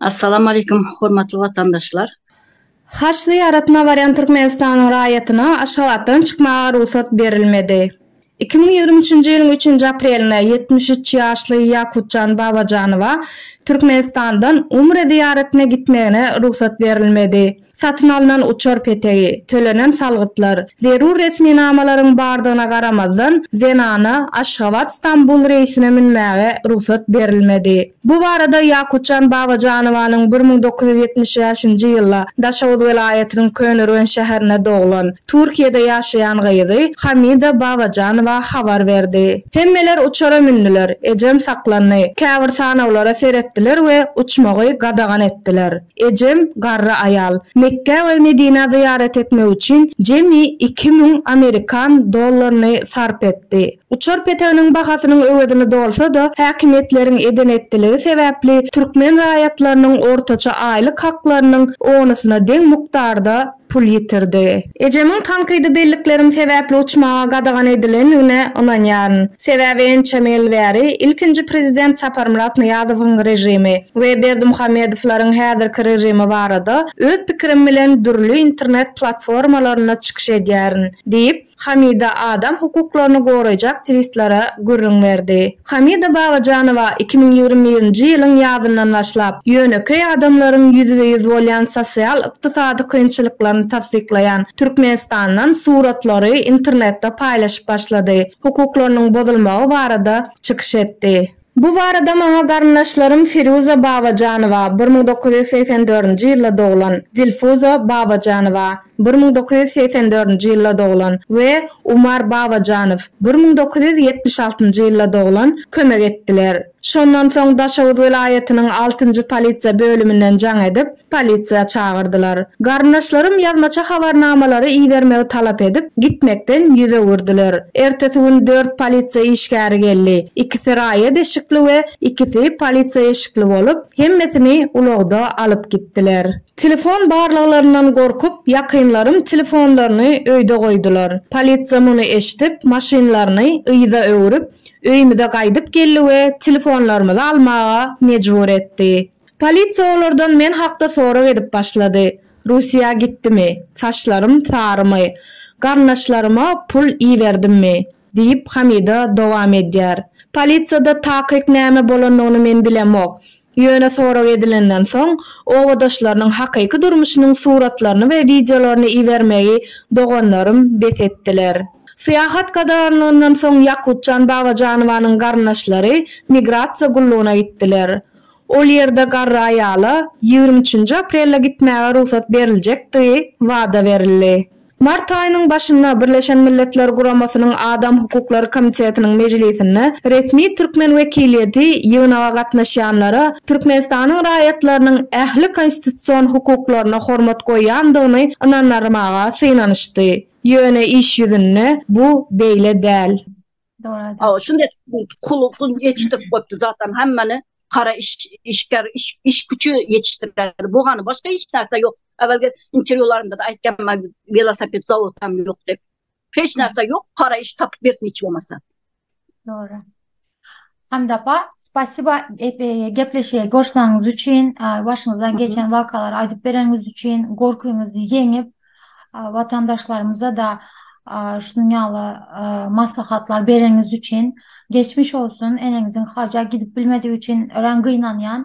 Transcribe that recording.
Assalamu aleykum hormatly watandaşlar. Haj zyýaratyna barýan Türkmenistanyň raýatyna Aşgabatdan çykmaga rugsat berilmedi. Iki müň ýigrimi üçünji ýylyň üçünji aprelinde ýetmiş üç ýaşly Ýakutjan Babajanowa Türkmenistandan umre zyýaratyna gitmegine rugsat berilmedi. Satyn alnan uçar petegi, tölenen salgytlar, zerur resminamalaryň bardygyna garamazdan, zenana Aşgabat-Stambul reýsine münmäge rugsat berilmedi. Bu barada Ýakutjan Babajanowanyň bir müň dokuz ýüz ýetmiş bäşinji ýylda Daşoguz welaýatynyň Köneürgenç şäherinde doglan, Türkiýede ýaşaýan gyzy Hamida Babajanowa habar berdi. Hemmeler uçara mündüler, ejem saklandy. Käbir sanawlara seretdiler we uçmagy gadagan etdiler. Ejem, garry aýal, Mekgä we Medinä zyýarat etmek üçin jemi iki müň amerikan dollaryny sarp etdi. Uçar peteginiň bahasynyň öwezini dolsa-da, häkimiýetleriň eden-etdiligi sebäpli türkmen raýatlarynyň ortaça aýlyk haklarynyň onusyna deň mukdarda, pul ýitirdi. Ejemiň tankydy bellikleriň sebäpli uçmaga gadagan edilendigine ynanýaryn. Sebäbi ençeme ýyl bäri ilkinji prezident Saparmyrat Nyýazowyň režimi we Berdimuhamedowlaryň häzirki režimi barada öz pikirim bilen dürli internet platformalarynda çykyş edýärin, diýip, Hamida adam hukuklaryny goraýjy aktiwistlara gürrüň berdi. Hamida Babajanowa iki müň ýigrimi birinji ýylyň ýazyndan başlap, ýönekeý adamlaryň ýüzbe-ýüz bolýan sosial-ykdysady kynçylyklaryny tassyklaýan Türkmenistandan suratlary internetde paýlaşyp başlady, hukuklarynyň bozulmagy barada çykyş etdi. Bu barada maňa garyndaşlarym Firuza Babajanowa, bir müň dokuz ýüz segsen dördünji ýylda doglan, Dilfuza Babajanowa, bir müň dokuz ýüz segsen dördünji ýylda doglan, we Umar Babajanow, bir müň dokuz ýüz ýetmiş altynjy ýylda doglan, kömek etdiler. Şondan soň Daşoguz welaýatynyň altynjy polisiýa bölüminden jaň edip, Polisiýa çagyrdylar. Garyndaşlarym ýazmaça habarnamalary ibermegi talap edip, gitmekden ýüz öwürdiler. Ertesi gün dört polisiýa işgäri geldi. Ikisi raýat eşikli we ikisi polisiýa eşikli bolup, hemmesini ulagda alyp gitdiler. Telefon barlaglaryndan gorkup, ýakynlarym telefonlaryny öýde goýdular. Polisiýa muny eşidip, maşynlaryny yza öwrüp, öýümize gaýdyp geldi we telefonlarymyzy almaga mejbur etdi. Polisiýa olardan men hakda sorag edip başlady. Russiýa gitdimi? Saçlarym sarymy? Garyndaşlaryma pul iberdimmi? diýip, Hamida dowam edýär. Polisiýada takyk näme bolandygyny men bilemok. Ýöne sorag edilenden soň, obadaşlarynyň hakyky durmuşynyň suratlaryny we wideolaryny ibermegi doganlarym bes etdiler. Syýahat gadaganlygyndan soň Ýakubjan Babajanowanyň garyndaşlary migrasiýa gullugyna gitdiler. Ol ýerde garry aýala ýigrimi üçünji aprelde gitmäge rugsat beriljekdigi wada berildi. Mart aýynyň başynda Birleşen Milletler Guramasynyň Adam hukuklary komitetiniň mejlisinde resmi türkmen wekiliýeti ýygnaga gatnaşýanlara Türkmenistanyň raýatlarynyň ähli konstitusion hukuklaryna hormat goýýandygyny ynandyrmaga synanyşdy, ýöne iş ýüzünde bu beýle däl. Dogry aýdýarsyň. Şunda kulugyň ýetişdirip goýupdy zaten hemmeni. Kara iş, işgär, iş, iş güçi ýetişdirýärdi. Bu gany başga hiç näse ýok. Äwelki interwýularynda da aýtýan men welosiped zawod hem ýok diýip. Hiç näse ýok, kara iş tapyp bersin hiç bolmasa. Dogry. Hamid apa spasiba gepleşige goşulaňyz üçin başyňyzdan geçen wakalary aýdyp bereniňiz üçin gorkyňyzy ýeňip watandaşlarymyza da şunuň ýaly maslahatlar bereniňiz üçin geçmiş olsun eneňiziň haja gidip bilmedigi üçin örän gynanýan